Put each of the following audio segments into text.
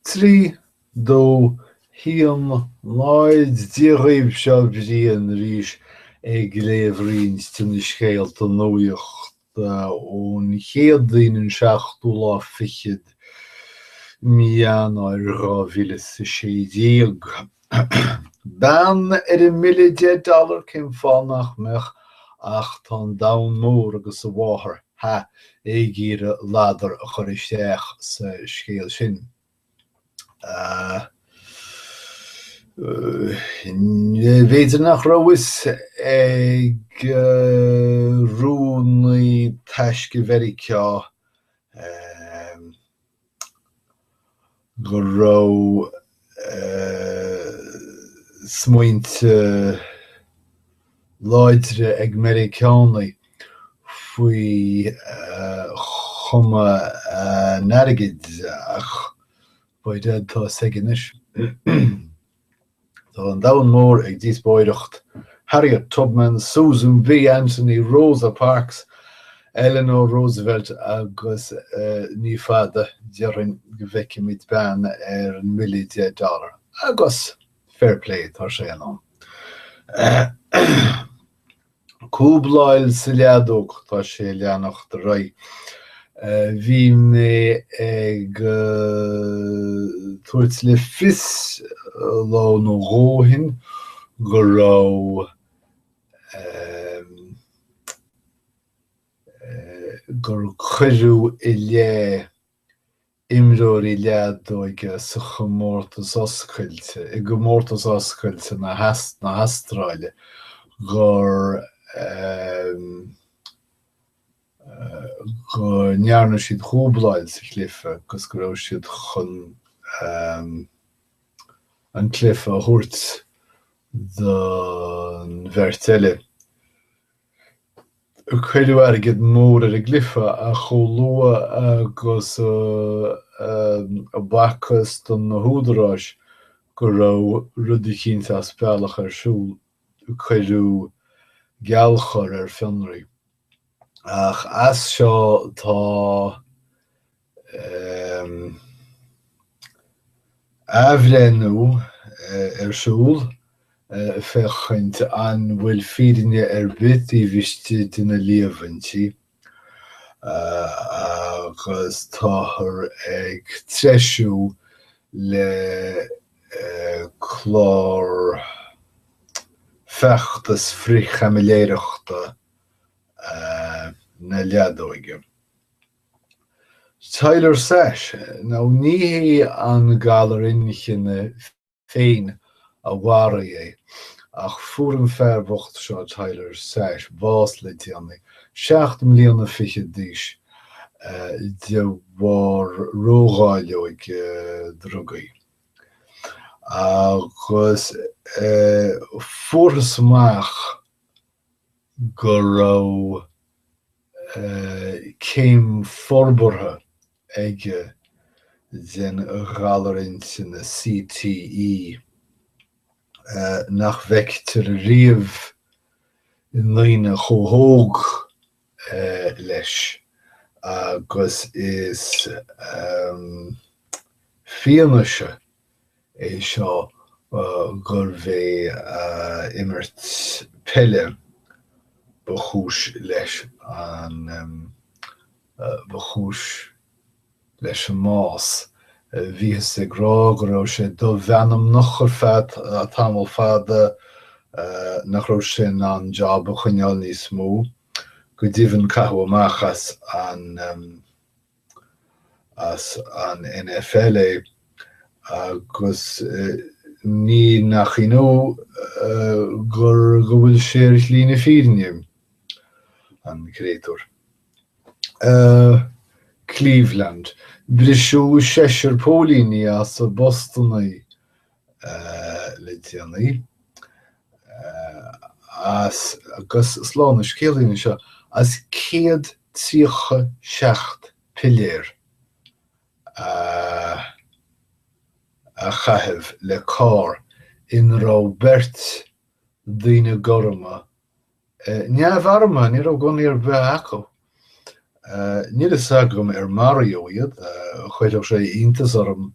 Trí dó a haon náid daoibh seo Brian arís ag léamh roinnt de na scéalta nuachta ón Chéadaoin an seachtú lá fichead mí Eanáir dhá mhíle is a sé déag. Bean ar an mbille 10 dollar cén fáth nach mbeadh ach tá an domhan mór agus a mháthair ag iarraidh ladar a chur isteach sa scéal sin. B'fhéidir nach raibh a fhios ag rúnaí taisce Mheiriceá. go raibh smaointe láidre ag Meiriceánaigh faoi chuma an airgid ach by dad, tá a fhios aige anois. Tá an domhan mór ag díospóireacht, Harriet Tubman, Susan B Anthony, Rosa Parks, Eleanor Roosevelt agus ní fada, déarfainn, go bhfeicfimid bean ar an mbille deich dollar, agus fair play, tá sé in am. cúbláil sa leadóg, tá sé ag leanacht ar aghaidh. Bhí mé ag tabhairt le fios lá nó dhó ó shin go raibh gur cuireadh i leith imreoirí leadóige sa chomórtas oscailte i gcomórtas oscailte na na hAstráile gur go ndearna siad cúbláil sa chluife agus go raibh siad chun an cluife a thabhairt don bheirt eile. Cuireadh airgead mór ar an gcluife ach chomh luath agus a b'fhacthas do na húdaráis go raibh rud eicínt as bealach ar siúl, cuireadh geallchor ar fionraí. Ach as seo tá. athbhreithniú ar siúl féachaint an bhfuil fírinne ar bith taobh istigh de na líomhaintí agus táthar ag treisiú le clár feachtas frith-chaimiléireachta na leadóige. Tyler Sash, nó ní hé an galar inchinne féin a mharaigh é, ach fuair an fear bocht seo, Tyler Sash, bás le déanaí, seacht mbliana fichead d'aois, de bharr ródháileog drugaí. Agus fuarthas amach go raibh. céim forbartha aige den ghalar intinne, CTE, nach bhfeictear riamh i ndaoine chomh hóg leis agus is fianaise é seo gurbh é imirt peile ba chúis leis an ba chúis leis an mbás. Bhíothas ag rá go raibh sé domheanmnach ar feadh tamall fada, nach raibh sé in ann job a choinneáil níos mó. Go deimhin caitheadh amach as an. as an NFL é agus ní nach ionadh gur go bhfuil sé ar shlí na fírinne, an créatúr. Cleveland, Briseadh seisear póilíní as a bpostanna le déanaí, as agus slán an scéalaí anseo as 137 piléar a chaitheamh le carr ina raibh beirt daoine gorma neamharmtha, ní raibh gunnaí ar bith acu. Níl fhios agam ar maraíodh iad, chuirfeadh sé iontas orm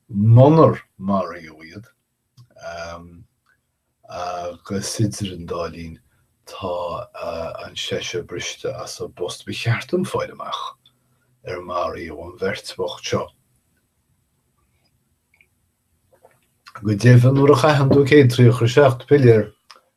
munar maraíodh iad, agus idir an dá linn tá an seisear briste as a bpost. Ba cheart dom fáil amach ar maraíodh an bheirt bhocht seo. Go deimhin nuair a chaitheann tú 137 piléar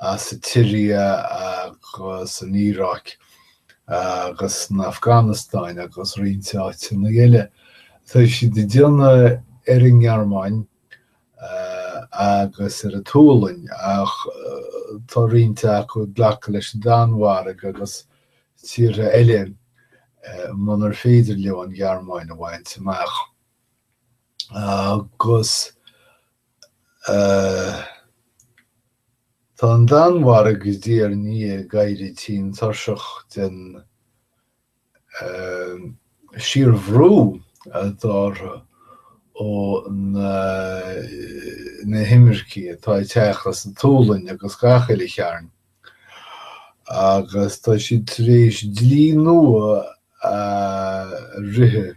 as an tSiria agus an Iaráic agus an Afganastáin agus roinnt áiteanna eile. Tá siad ag déanamh ar an nGearmáin agus ar an tSualainn ach tá roinnt acu ag glacadh leis an Danmhairg agus tíortha eile munar féidir leo an Ghearmáin a bhaint amach. Agus. Tá an Danmhairg diaidh ar ndiaidh ag éirí tinn tuirseach den síorbhrú atá orthu ó na himircigh atá ag teacht as an tSualainn agus gach uile chearn agus tá siad tar éis dlí nua a rith.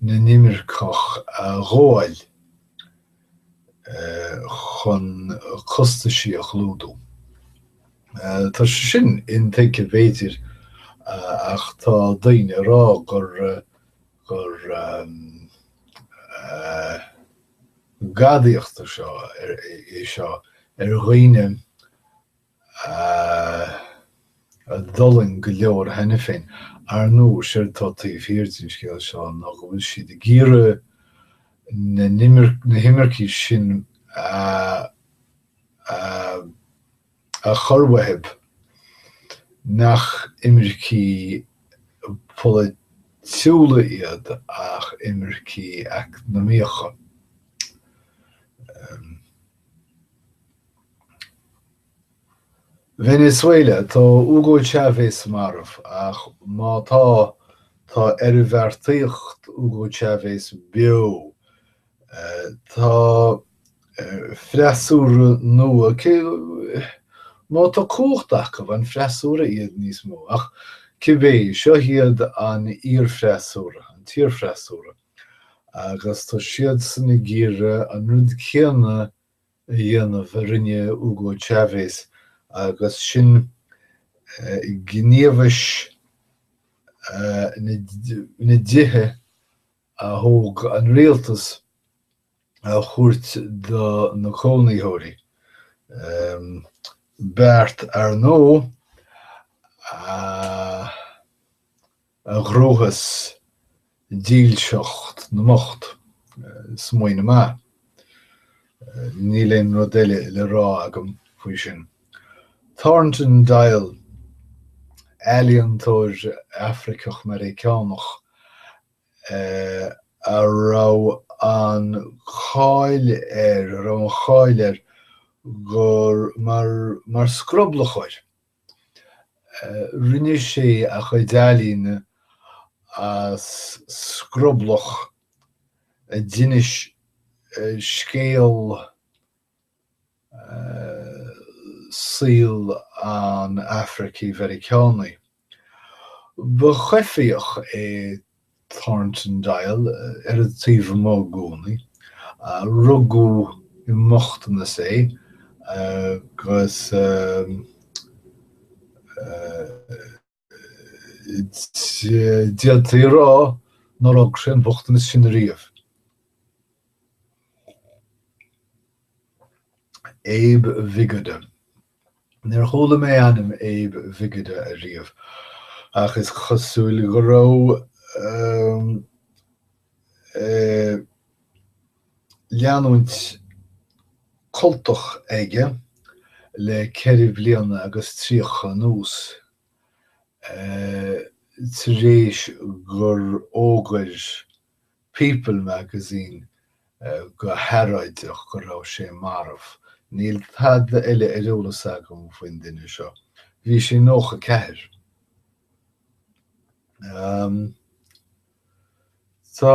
na n-inimirceach a ghabháil chun costaisí a chlúdú. Tá sé sin intuigthe b'fhéidir ach tá daoine ag rá gur gadaíocht é seo é seo ar dhaoine a d'fhulaing go leor cheana féin. Ar ndóigh, séard atá taobh thiar den scéal seo ná go bhfuil siad ag iarraidh na himircigh sin a chur uathu nach imircigh pholaitiúla iad ach imircigh eacnamaíocha. Venezuela, Tá Hugo Chávez marbh, ach má tá, tá oirbheartaíocht Hugo Chávez beo. Tá freasúra nua, má tá cumhacht acu, an freasúra iad níos mó? Ach cibé, seo iad an iarfhreasúra, an t-iarfhreasúra, agus tá siadsan ag iarraidh an rud céanna a dhéanamh a rinne Hugo Chávez agus sin gníomhais na dtithe a thóg an rialtas a thabhairt do na cónaitheoirí. Beart, ar ndóigh, a. a ghnóthós dílseacht na mbocht, smaoineamh maith. Níl aon rud eile le rá agam faoi sin. Thornton Dial, ealaíontóir Afraiceach-Meiriceánach a raibh an cháil air, a raibh an cháil air gur mar, mar scroblachóir, Rinne sé a chuid ealaíne as scroblach a d'inis scéal saoil an Afraicigh-Mheiriceánaigh. Ba choimhthíoch é Thornton Dial, ar an taobh amuigh i gcónaí. Rugadh i mbochtanas é agus d'fhéadfaí a rá nár fhága sé an bochtanas sin ariamh. Abe Vigoda. Níor chuala mé ainm Abe Vigoda ariamh, ach is cosúil go raibh leanúint cultach aige le ceithre bliana agus tríocha anuas, tar éis gur fhógair People Magazine go hearráideach go raibh sé marbh. Níl tada eile ar eolas agam faoin duine seo. Bhí sé 94. Tá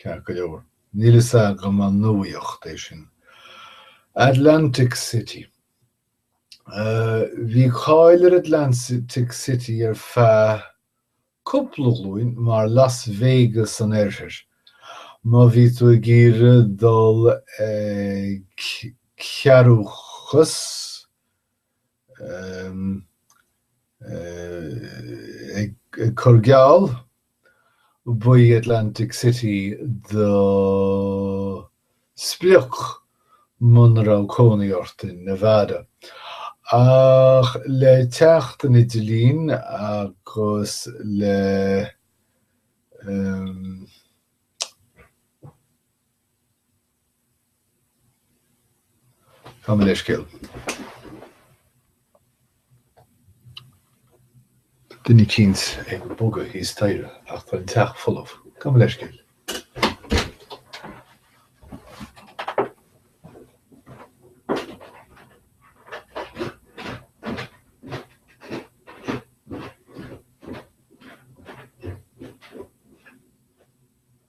Ceart go leor, níl fhios agam an nuaíocht é sin. Atlantic City. Bhí cáil ar Atlantic City ar feadh cúpla glúin mar Las Vegas an oirthir. Má bhí tú ag iarraidh dul ag cearrúchas, Ag cur geall, ba í Atlantic City do sprioc muna raibh cónaí ort in Nevada. Ach le teacht an idirlín agus le Gabh mo leithscéal. Duine eicínt ag bogadh thíos staighre ach tá an teach folamh. Gabh mo leithscéal.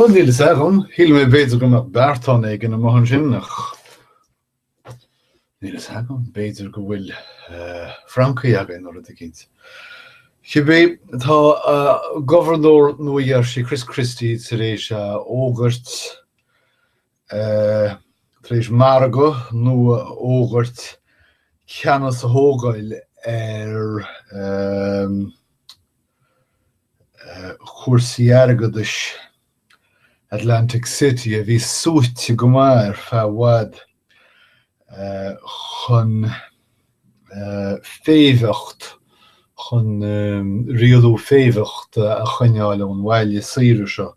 Bhuel, níl fhios agam. Shíl mé b'fhéidir go raibh beartán éigin amach ansin ach níl fhios agam. B'fhéidir go bhfuil francaigh againn nó rud eicínt. Cibé, tá Gobharnóir Nua-Gheirsí Chris Christie tar éis a fhógairt. tar éis margadh nua a fhógairt, ceannas a thógáil ar chúrsaí airgeadais Atlantic City, a bhí suaite go maith ar feadh i bhfad, chun féimheacht, chun rialú féimheachta a choinneáil ón bhaile saoire seo.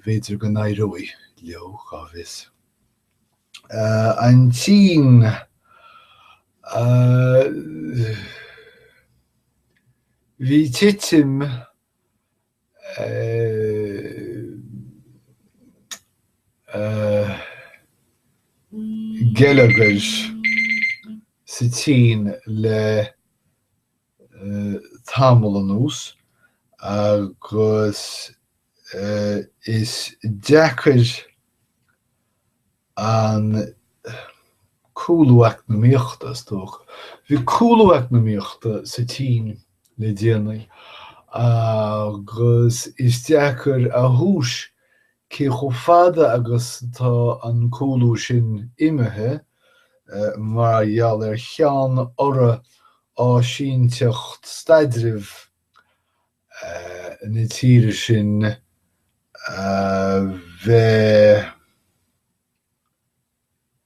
bhféidir go n-éireoidh leo, cá bhfios. An tSín, bhí titim geilleagair sa tSín le tamall anuas agus is deacair an cúlú eacnamaíochta, is dócha. Bhí cúlú eacnamaíochta sa tSín le déanaí agus is deacair a thomhais Cé chomh fada agus atá an cúlú sin imithe mar gheall ar cheann urra áisínteacht staidrimh na tíre sin a bheith.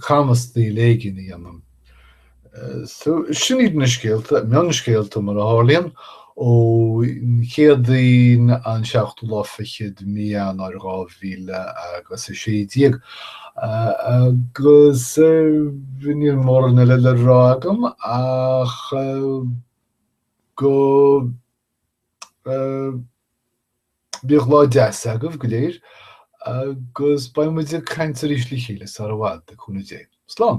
camastaíl éigin a dhéanamh. So, sin iad na scéalta, mionscéalta mar a tharlaíonn, ó Chéadaoin an seachtú lá fichead mí Eanáir dhá mhíle agus a sé déag. Agus níl móran eile le rá agam ach go. Bíodh lá deas agaibh go léir agus beidh muid ag caint arís le chéile sara bhfad, le cúnamh Dé. Slán!